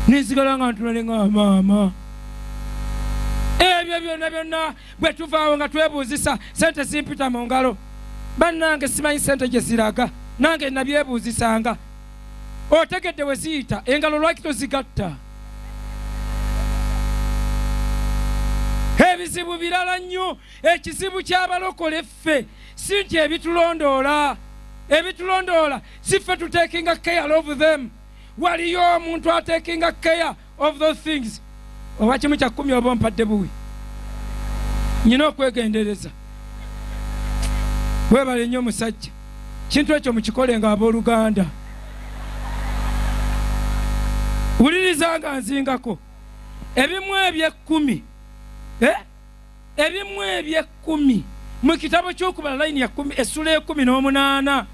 nensigala nga ntulale nga maama ebyo byonna byonna bwe tuvaawo nga twebuuzisa sente zimpita mu ngalo bannange simanyi sente gye ziraga nange nabyebuuzisanga otegedde we ziyita engalo lwaki tozigatta ebizibu birala nnyo ekizibu ky'abalokole ffe si nti ebitulondoola ebitulondoola si ffe tutekinga care of them waliyo omuntu atekinga care of those things oba kimu kya kumi oba ompadde buwi nyina okwegendereza webale nnyo omusajja kintu ekyo mukikole nga abooluganda wuliriza nga nzingako ebimu ebyekkumi eh? ebimu eby'ekkumi mu kitabo ky'okubala layini ya kumi essula ekumi n'omunaana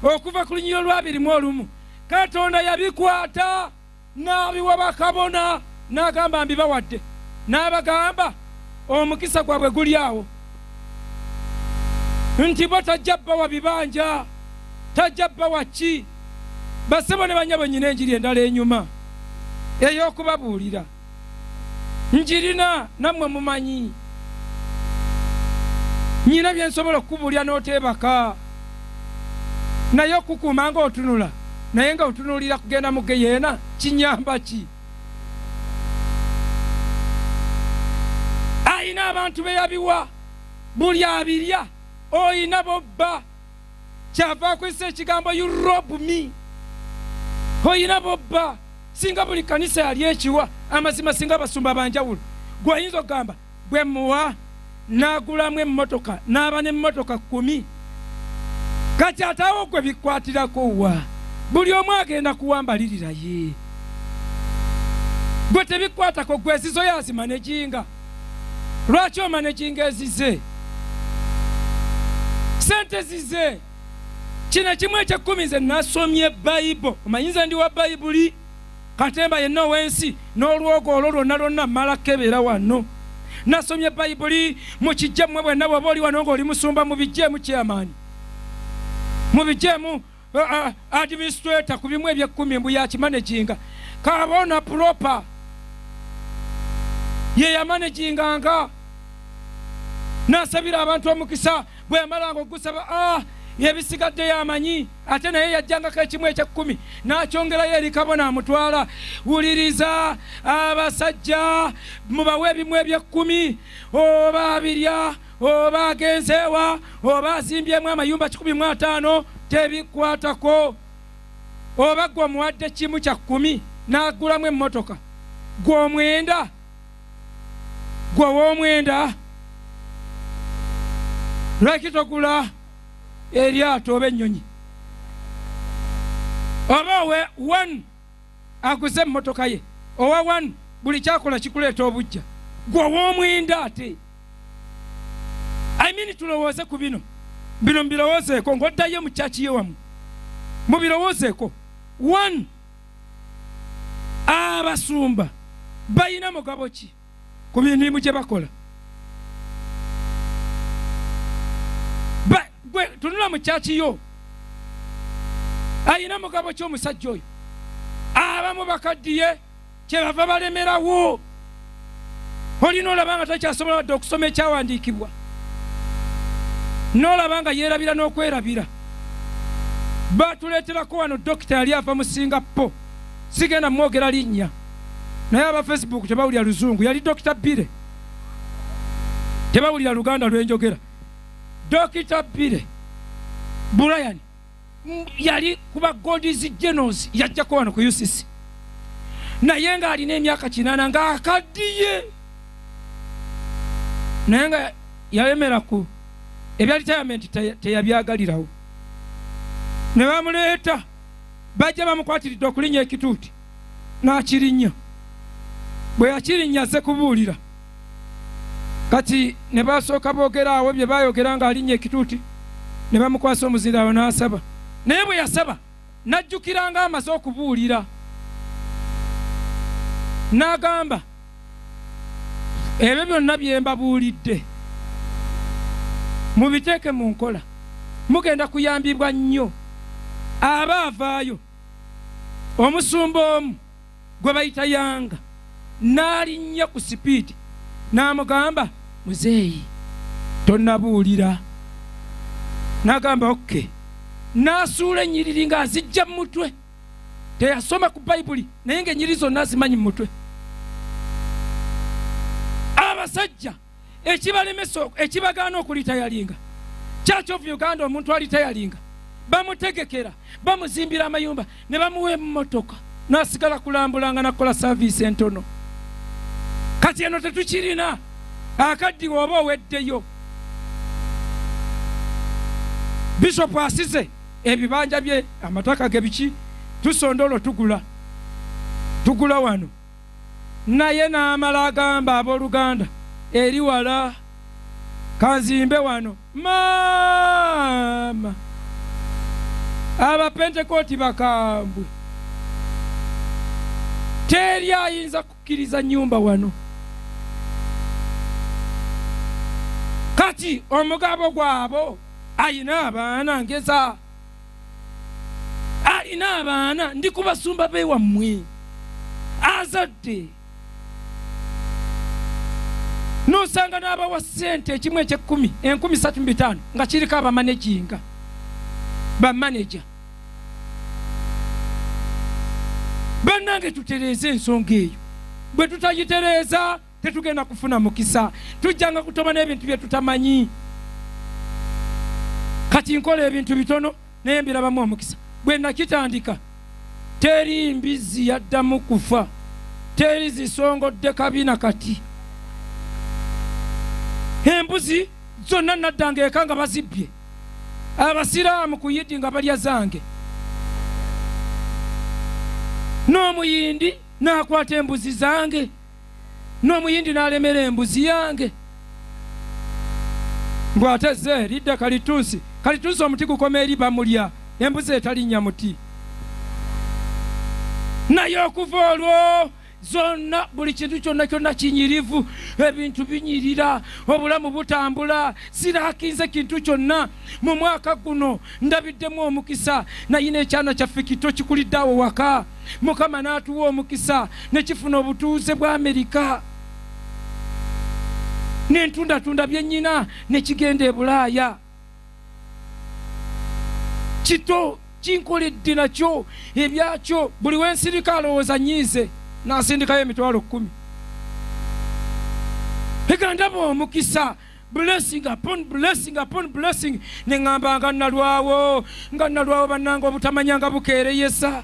okuva ku lunyiriro lw'abiri mu olumu katonda yabikwata n'abiwa bakabona n'agamba mbibawadde n'abagamba omukisa gwabwe guli awo nti bo tajja bawa bibanja tajja bawa ki basebo ne banyabo nyina enjiri endala enyuma ey'okubabuulira njirina nammwe mumanyi nyina byensobola okukubulya n'oteebaka naye okukuuma nga otunula naye nga otunuulira kugenda mu geyeena kinyamba ki alina abantu be yabiwa buli abirya olina bobba kyava akozesa ekigambo you rob me oyina bobba singa buli kanisa yali ekiwa amazima singa abasumba banjawulo gweoyinza okugamba bwe muwa n'agulamu emmotoka n'aba n'emmotoka kkumi kati ataawo gwe bikwatirako wa buli omu agenda kuwambalirira ye gwe tebikwatako gwe ezizo yazima nejinga lwaki omanaginga ezize sente zize kino kimu ekyekkumi nze nasomye bayibo omanyinza ndi wa bayibuli katemba yenna ow'ensi n'olwogo olwo lwonna lwonna mala kebeera wano nasomye bayibuli mukijje mmwe bwenna bwoba oli wano ng'oli musumba mubijjeemu kyamaani mubijjeemu administrator ku bimu ebyekkumi mbu yakimanaginga kabona proper ye yamanaginganga nasabira abantu omukisa bwe yamalanga okugusaba ah, yebisigadde yamanyi ate naye yajjangako ekimu ekyekkumi nakyongerayo eri kabona amutwala wuliriza abasajja mubawe ebimu ebyekkumi oba abirya oba agenzeewa oba azimbyemu amayumba kikumi mu ataano tebikwatako oba gwe omuwadde kimu kya kkumi n'agulamu emmotoka gwe omwenda gwe ow'omwenda lwaki togula eryato oba ennyonyi oba we one aguze emmotoka ye owa wanu buli kyakola kikuleeta obujja gwe ow'omwenda ate imini tulowooze ku bino bino mubirowoozeeko ng'oddayo mu kyaki ye wamu mubirowoozeeko one abasumba balina mugabo ki ku mirimu gye bakola gwe tunula mu kyaki yo ayina mugabo ky'omusajja oyo abamu bakaddiye kyebava balemerawo olina olaba nga takyasobola wadde okusoma ekyawandiikibwa n'olaba nga yeerabira n'okwerabira batuleeterako wano dokita yali ava mu singapo sigenda mwogera linnya naye aba facebook tebawulira luzungu yali dokita bire tebawulira luganda lwenjogera dokita bire brian yali kuba godis genos yajjako wano ku ucc naye ng'alina emyaka kinana ng'akaddiye naye nga yayemera ku ebya ritayamenti teyabyagalirawo ne bamuleeta bajja bamukwatiridde okulinya ekituuti n'akirinnya bwe yakirinnya azze kubuulira kati ne basooka boogera awo bye bayogera ng'alinnya ekituuti ne bamukwasa omuzira awo n'asaba naye bwe yasaba n'ajjukiranga amaze okubuulira n'agamba ebyo byonna bye mbabuulidde mubiteeke mu nkola mugenda kuyambibwa nnyo aba avaayo omusumba omu gwe bayita yanga n'alinnya ku sipiidi n'amugamba muzeeyi tonabuulira n'agamba okke n'asuula ennyiriri ng'azijja mu mutwe teyasoma ku bayibuli naye ng'ennyiriri zonna azimanyi mu mutwe abasajja ekibalemesa ekibagaana okulitayalinga church of uganda omuntu alitayalinga bamutegekera bamuzimbira amayumba ne bamuwa emotoka nasigala kulambulanga nakukola saviisi entono kati eno tetukirina akaddiwa oba oweddeyo bishopu asize ebibanja bye amataka ge biki tusonda olwo tugula tugula wano naye n'amala agamba ab'oluganda eri wala kanzimbe wano maama abapentekooti bakambwe teri ayinza kukkiriza nyumba wano kati omugabo gwabo ayina abaana ngeza alina abaana ndi ku basumba bewammwe azadde nosanga n'abawa ssente ekimu ekyekkumi enkumi satu mubitaano nga kiriko abamaneginga bamaneja bannange tutereeze ensonga eyo bwe tutagitereeza tetugenda kufuna mukisa tujjanga kutoba n'ebintu bye tutamanyi kati nkola ebintu bitono naye mbirabamu omukisa bwe nakitandika teri mbizzi yaddamu kufa teri zisongodde kabina kati embuzi zonna naddanga eka nga bazibbye abasiraamu ku yidi nga balya zange n'omuyindi n'akwata embuzi zange n'omuyindi n'alemera embuzi yange mbu ate ze lidda kalitunsi kalitunsi omuti gukoma eri bamulya embuzi etalinnya muti naye okuva olwo zonna buli kintu kyonna kyonna kinyirivu ebintu binyirira obulamu butambula sirakinze kintu kyonna mu mwaka guno ndabiddemu omukisa naye n'ekyana kyaffe kito kikulidde awo waka mukama n'atuwa omukisa ne kifuna obutuuze bwa amerika nentundatunda byennyina ne kigenda e bulaaya kito kinkoledde nakyo ebyakyo buli wensirika alowooza nyiize nasindikayo emitwalo kkumi egandaba omukisa blessing upon blessing upon blessing ne ŋŋamba nga nnalwawo nga nnalwawo bannanga obutamanya nga bukeereyesa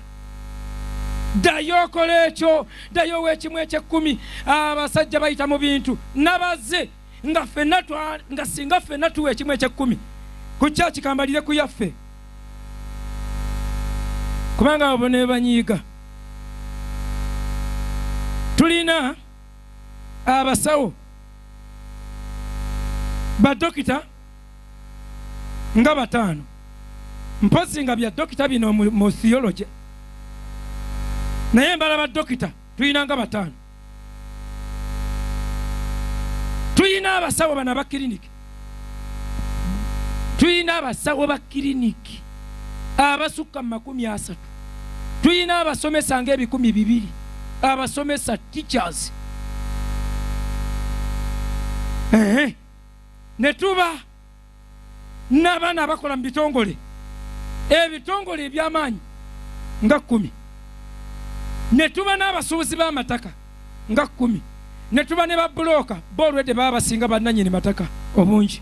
ddayo okola ekyo ddayo ow'ekimu ekyekkumi abasajja bayita mu bintu nabaze nga fenna nga singa fenna tuwa ekimu ekyekkumi ku kyaki kambalire ku yaffe kubanga abo ne banyiiga tulina abasawo badokita nga bataano mpozi nga bya dokita bino mu theology naye mbala badokita tulina nga bataano tulina abasawo bana bakiriniki tulina abasawo ba kiriniki abasukka mu makumi asatu tulina abasomesa nga ebikumi bibiri abasomesa teachers ehe ne tuba n'abaana abakola mu bitongole ebitongole eby'amaanyi nga kkumi ne tuba n'abasuubuzi b'amataka nga kkumi ne tuba ne babbulooka bo olwedde baba basinga bannanyini mataka obungi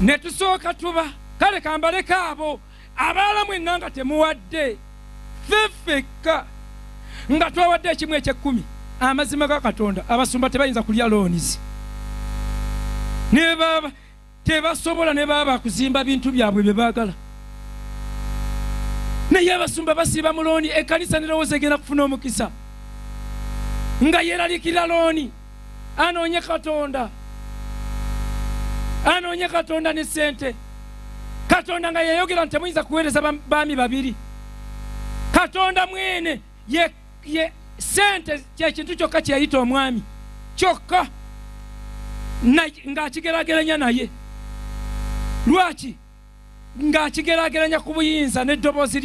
ne tusooka tuba kale kambaleko abo abaala mwenna nga temuwadde ffe ffekka nga twawadde ekimu ekyekkumi amazima ga katonda abasumba tebayinza kulya loonizi nebaba tebasobola ne baaba kuzimba bintu byabwe bye baagala naye abasumba basiiba mu looni ekkanisa nerowooza egenda kufuna omukisa nga yeeralikira looni anoonye katonda anoonye katonda ne ssente katonda nga yayogera nti temuyinza kuweereza baami babiri katonda mwene ye ye sente kyekintu kyokka kyeyita omwami kyokka ng'akigerageranya naye lwaki ng'akigerageranya ku buyinza n'eddoboozi